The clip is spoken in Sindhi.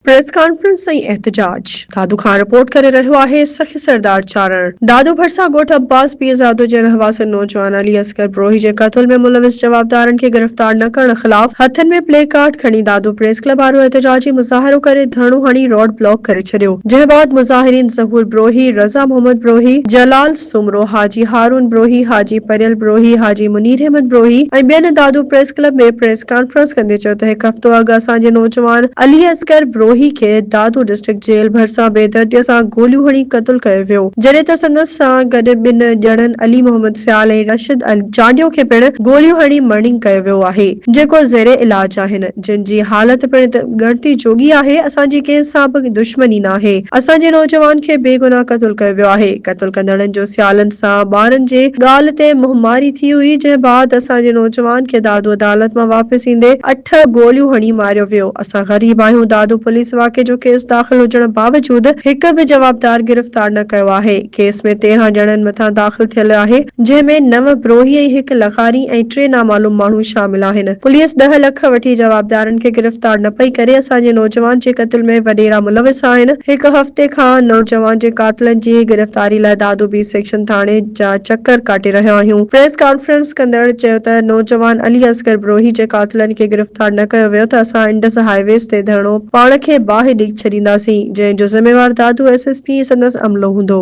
پريس ڪانفرنس ۽ احتجاج. دادو خان رپورٽ ڪري رهيو آهي سخي سردار چارڻ دادو ڀرسان ڳوٺ عباس پيرزادو جي رهواسين نوجوان علي اصغر بروهي جي قتل ۾ ملوث جوابدارن کي گرفتار نه ڪرڻ خلاف هٿن ۾ پلي ڪارڊ کڻي دادو پريس ڪلب آڏو احتجاجي مظاهرو ڪري ڌرڻو هڻي روڊ بلاڪ ڪري ڇڏيو جنهن بعد مظاهرين ظهور بروهي، رضا محمد بروهي، جلال. سومرو، حاجي هارون بروهي، حاجي پريل بروهي، حاجي منيراحمد بروهي ۽ ٻين Dadu press club ۾ press conference ڪندي چيو ته هڪ هفتو اڳ اسان جي نوجوان علي اصغر بروهي کي دادو ڊسٽرڪٽ جيل ڀرسان بيدرديء سان گوليون هڻي قتل ڪيو ويو جڏهن ته سندس سان گڏ ٻن ڄڻن علي محمد سيال ۽ راشد چانڊيو کي پڻ گوليون هڻي مرڻينگ ڪيو ويو آهي جيڪو زير علاج آهن. جن جي حالت پڻ ڳڻتي جوڳي آهي، اسان جي ڪنهن سان به دشمني ناهي، اسان جي نوجوان کي بي گناهه قتل ڪيو ويو آهي، قتل ڪندڙن جو سيالن سان ٻارن جي ڳالهه تي منهن ماري ٿي هئي، جنهن بعد اسان جي نوجوان کي دادو عدالت مان واپس ايندي اٺ گوليون هڻي ماريو ويو، اسان غريب آهيون، دادو پوليس واقعي جو ڪيس داخل هجڻ باوجود هڪ به جوابدار گرفتار نه ڪيو آهي، ڪيس ۾ تيرهن ڄڻن مٿان داخل ٿيل آهي، جنهن ۾ نو بروهي ۽ هڪ لغاري ۽ ٽي نامعلوم ماڻهو شامل آهن. پوليس ڏهه لک وٺي جوابدارن کي گرفتار نه پئي ڪري، اسان جي نوجوان جي قتل ۾ وڏيرا ملوث آهن، هڪ هفتي کان نوجوان جي قاتلن جي گرفتاري لاء دادو بي سيڪشن ٿاڻي جا چڪر ڪاٽي رهيا آهيون، پريس ڪانفرنس ڪندڙ چيو ته نوجوان علي اصغر بروهي جي قاتلن کي گرفتار نه ڪيو ويو ته اسان انڊس هاء ويز تي ڌرڻو پاڻ کي باهه ڏئي ڇڏينداسين، جنهن جو ذميوار دادو ايس ايس پي ۽ سندس عملو هوندو.